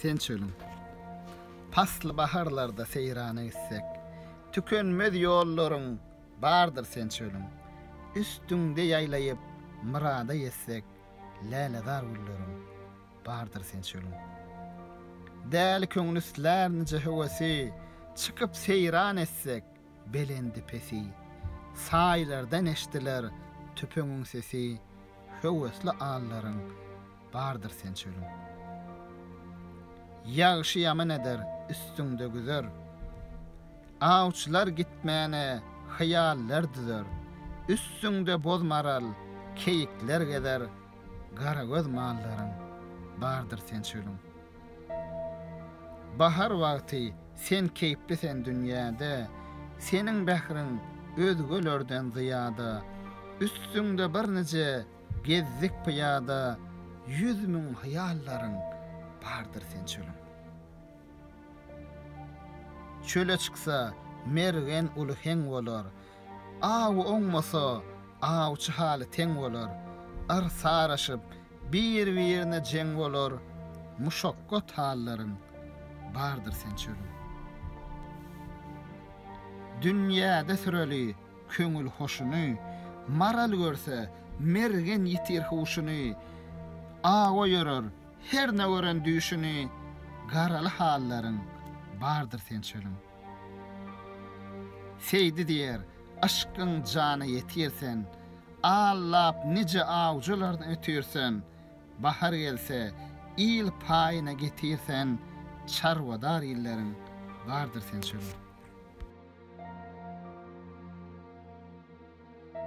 Sen çölüň pasly baharlarda seýrana gitsek, Tükenmez ýollaryň bardyr sen çölüň, Üstüňde ýaýlaýyp myrada ýetsek, Lälezar gülleriň bardyr sen çölüň. Däli köňlüstlär nije höwesi, Çykyp seýran etsek, belendi-pesi, Saýlardan eşdiler tüpeňiň sesi, Höwesli allaryň bardyr sen çölüň. Ýagşy-ýaman eder üstüňde güzer, Awçylar gitmäne hyýallar düzer, Üstüňde boz maral, keýikler gezer, Garagöz mallaryň bardyr sen çölüň. Bahar wagty sen keýpli sen dünýäde, Seniň bähriň özgelerden zyýada. Üstüňde birnije gezdik pyýada, Ýüz müň hyýallaryň bardyr sen çölüň. Çöle çyksa, mergen uly heň bolar. Awy oňmasa, awçy haly teň bolar, Ar saraşyp, bir-birine jeň bolar, Muşakgat hallaryň bardyr sen çölüň. Dünýäde süreli köňül hoşuny, Maral görse, mergen ýitir huşuny, Awa ýörer, hernä gören düýşüni, Garaly hallaryň bardyr sen çölüň. Seýdi diýer, Yşkyň jana ýetir sen, Al-lap nije awjylardan ötir sen, Bahar gelse, il paýyna getir sen, Çarwadar illeriň bardyr sen çöre.